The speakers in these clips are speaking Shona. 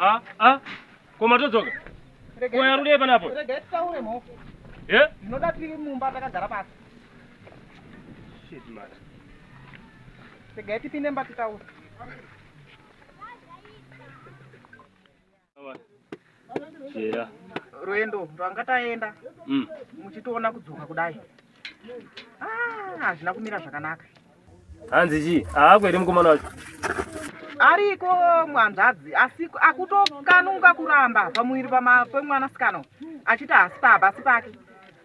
Ah, ah. Koma todzoka. Koya rude panapo. Rega titaure mhofu. Eh? Ndinoda tiri mumba takagara pasi. Shit man. Rega tipinde mba titaure. Jera. Rwendo rwanga taenda mm. muchitoona kudzoka kudai ah, hazvina kumira zvakanaka. Hanzi chii? Haako here mukomana wacho? Ariko mwanzvadzi asi akutokanuka kuramba pamuviri pemwanasikana achiti hasi pabasi pake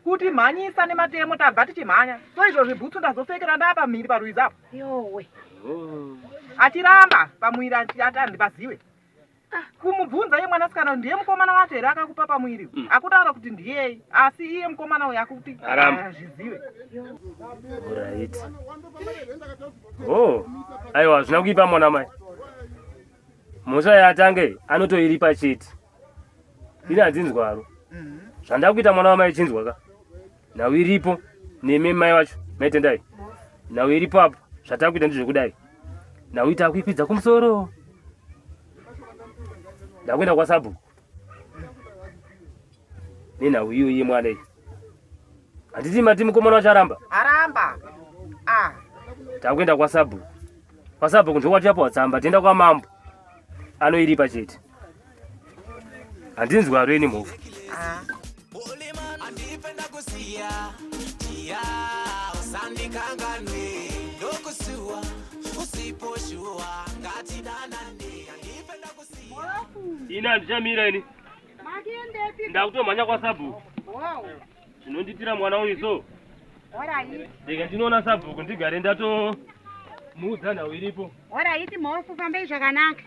kuti mhanyisa nematemo tabva tichimhanya so izvo zvibhutsu ndazopfekera ndapa mhiri parwizi apo yowe achiramba pamwiri ati andipaziwe Ah, kumubvunza iye mwanasikana ndiye mukomana wacho here akakupa pamuviri mm. akutaura kuti ndiyei asi iye mukomana uyo akuti azvizive right. oh. aiwa hazvina kuipa mwana mai mhosva yatange anotoiripa chete ini handzinzwaro mm-hmm. zvandakuita mwana wamai chinzwa ka nhau iripo nemi mai vacho maitendai nhau iripo apo zvatakuita ndizvekudai nhau ita kuikwidza kumusoro ndakuenda kwasabhuku nenhau iyo iye mwana iyi handiti mati mukomana wacho aramba aramba ah. takuenda kwasabhuku kwasabhuku ndokwatiyapo watsamba tienda kwamambo anoiripa chete handinzwi waro ini mhofu ini handichamira ini ndakutomhanya kwasabhuku zvinonditira mwana uyu so rega ndinoona sabhuku ndigare ndatomuudza nhau iripo oraiti mhofu fambei zvakanaka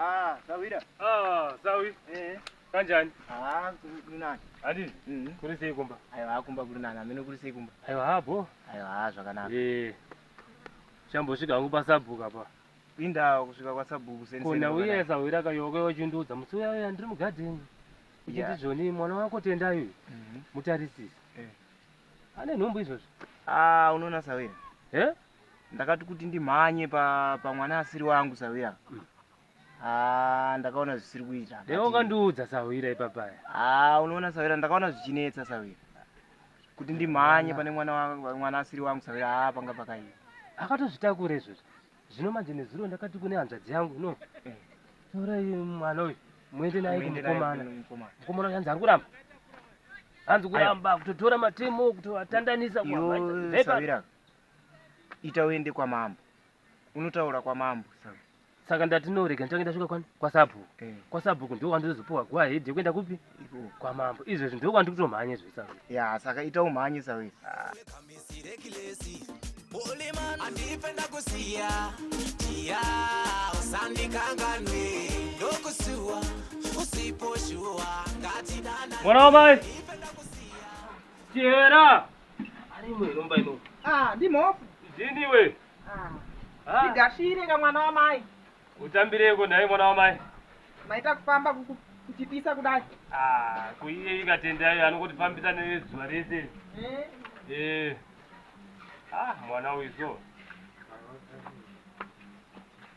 Ah, sawira. Ah, sawi. Eh. Kanjani? Ah, kuri nani? Adi. Mhm. Kuri sei kumba? Ayo akumba kuri nani? Amene kuri sei kumba? Ayo habo. Ayo ha zvakanaka. Eh. Shambo svika hangu pasabhuka pa. Pinda kusvika kwa sabhuku seni. Kona uye sawira kayoke yochindudza musi uya uya ndiri mugadheni. Uchiti zvoni mwana wako tenda uyu. Mhm. Mutarisisi. Eh. Ane nhombo izvozvo. Ah, unoona sawira. Eh? ndakati kuti ndimhanye pamwana pa asiri wangu sahwira mm. Ah, ndakaona zvisiri kuita dai ukandiudza sahwira ipapaya ah, unoona sahwira ndakaona zvichinetsa sahwira kuti ndimhanye pane mwana asiri wangu sahwira haa ah, panga pakaiva akatozvitakura izvozvo zvino manje nezuro ndakati kune hanzvadzi yangu no eh. torai mwana uyu muende naye kumukomana mukomana uyu hanzi ari kuramba hanzi kuramba kutotora matemo kutovatandanisa kuaa ita uende kwamambo unotaura kwamambo saka saka ndati no rega ndichange ndasvika kwani kwasabhuku eh. kwasabhuku ndiko kwandizozopiwa guva hedi yekuenda kupi kwamambo izvezvi ndiko kwandiri kutomhanye izvezvi sa ya saka ita umhanye sa wese ah. mwana wamai chihera Ari imwe inomba ino. Ah, ndi mhofu. Zini iwe. Ah. Ah. Igashire ka mwana wa mai. Utambireko naye mwana wa mai. Maita kufamba kuku kuchipisa kudai. Ah, kuiye ikatenda iyo anongoti fambisa nezuva rese. Eh. Eh. Ah, mwana uyu so.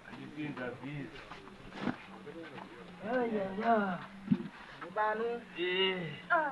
Andipinda busy. Ayaya. Mubano. Eh. Ah.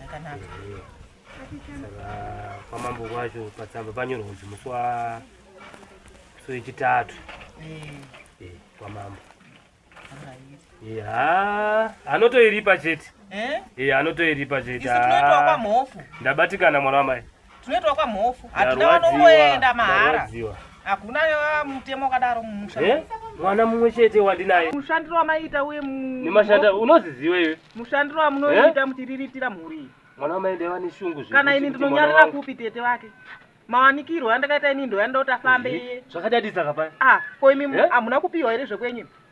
yakanaka kwamambo kwacho patsamba panyorwa kunzi musi wa musi wechitatu eh. eh, kwamambo ya anotoiripa chete eh? anotoiripa chete ndabatikana mwana wamai Tunoitwa kwa mhofu. Hatina vanongoenda mahara. Hakuna ah, mutemo kadaro mumusha. Eh? Mwana mumwe chete wandinaye. Mushandiro wamaita uye mu Nemashanda unoziziwa iwe. Mushandiro wamunoita eh? mutiriritira mhuri. Mwana wamaenda vane shungu zve. Kana ini ndinonyarira kupi tete vake? mawanikirwo andakaita ini ndoyanda kuti afambe iye zvakadadisa kapaya ah ko imi eh? hamuna kupiwa here zvekwenyu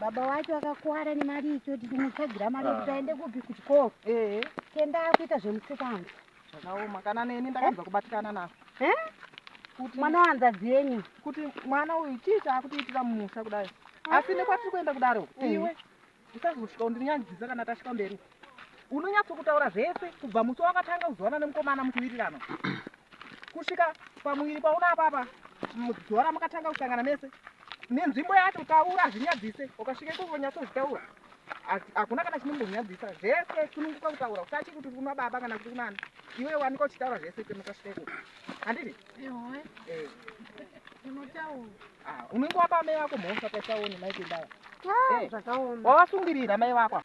baba wacho akakuwara nemari icho tichimutsvagira mari yekuti ah. aende kupi kuchikoro kenda akuita zvemusikana zvakaoma kana neni ndakanzwa kubatikana nako kuti mwana wanzadzi yenyu kuti mwana uyu chii chaakutiitira mumusha kudai asi nekwatiri kuenda kudaro iwe usazosvika undinyadzisa kana tasvika mberi Unonyatso kutaura zvese kubva musi wakatanga kuzowana nemukomana mukuwirirana kusvika pamuviri pauna apapa mudhora mukatanga kusangana mese nenzvimbo yacho taura hazvinyadzise ukasvika ikoko nyatsozvitaura hakuna kana chinombokunyadzisa zvese sununguka kutaura usachi kuti kuna baba kana kuti kunani iwe wanika uchitaura zvese kemukasvika ikoko handiti eh. ah, unenge wapa mai vako mhosva paisaone maikendava ah, eh. wavasungirira mai vako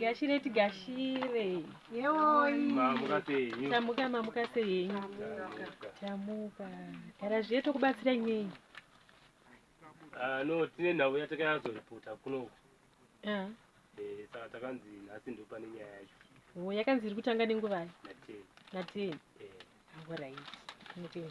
Gashire tigashire. Yewoi. Mamuka sei nyu? Tamuka mamuka sei nyu? Tamuka. Gara zviye tokubatsira nyei. Ah, no tine nhau yatakazoripota kunoku Ah, Eh, saka takanzi nhasi ndo pane nyaya yacho oh, yakanzi iri kutanga nenguvai nateni nateni Eh, alright tinotenda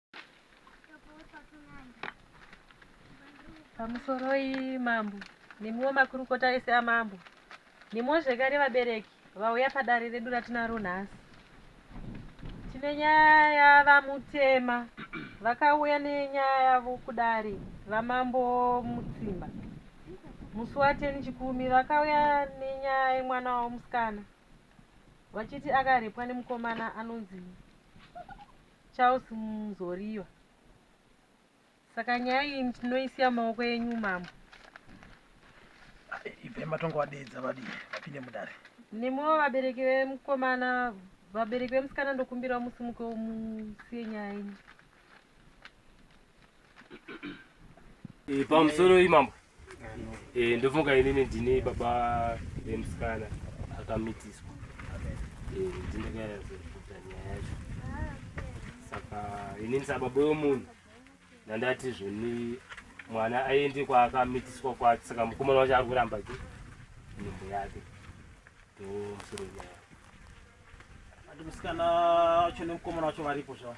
pamusoroi mambo nemiwo makurukota ese amambo nemiwo zvekare vabereki vauya padare redu ratinaro nhasi tine nyaya yavamutema vakauya nenyaya yavo kudare vamambo mutsimba musi wateni chikumi vakauya nenyaya yemwana wavo musikana vachiti akarepwa nemukomana anonzi Charles Muzoriwa, saka nyaya iyi ndinoisiya maoko enyu mambo. Ibvai matongo vadeedza vadii vapinde mudare. Nemiwo vabereki vemukomana vabereki vemusikana ndokumbirawo musimukewo musiye nyaya yenyu. Eh, pamusoro imambo eh, ndofunga inini ndine baba vemusikana akamitiswa eh, ndinekaazokuta nyaya yacho saka inini sababa wemunhu ndandati zvoni mwana aende kwaakamitiswa kwacho saka mukomana wacho ari kuramba ke nyimbo yake ndomusoro nyaya ati musikana wacho nemukomana wacho varipo zvavo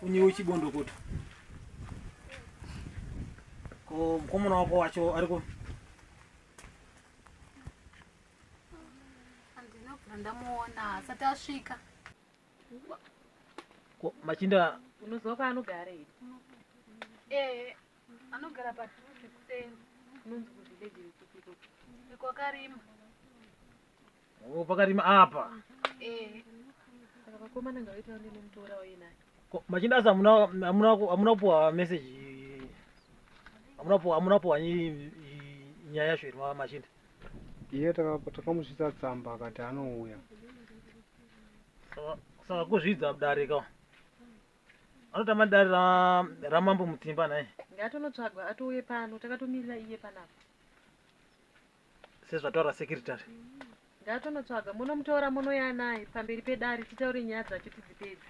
Funyiwe chibondokoto. Ko mkomona wako wacho ariko Ndamuona asati asvika. Ko machinda unoziva kwaanogara here? Eh, anogara padhuze kuseni. Unonzi kuzvidegere kupiko. Iko akarima. Oh, pakati apa. Eh. Saka vakomana ngavaita vane nemutora waye naye. Ko machinda asa amuna amuna amuna kupuwa message. Amuna kupuwa amuna kupuwa nyaya yacho iri machinda. Iye takamusvitsa tsamba akati anouya. Saka kuzvidza dare ka. Anotama dare ra ramambo Mutimba naye. Ngatonotsvagwa atouye pano takatomirira iye panapa. sezvataura secretary ngatonotsvaga monomutora monouya naye pamberi pedare titaure nyaya dzacho tidzipedze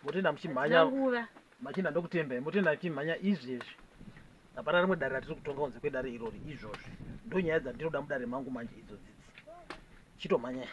motenda muchimhanya nguva machinda ndokutendai motenda muchimhanya izvi izvi hapana rimwe dare ratiri kutonga kunze kwedare irori izvozvi ndonyaya dzandinoda mudare mangu manje idzo dzidzi chitomhanyai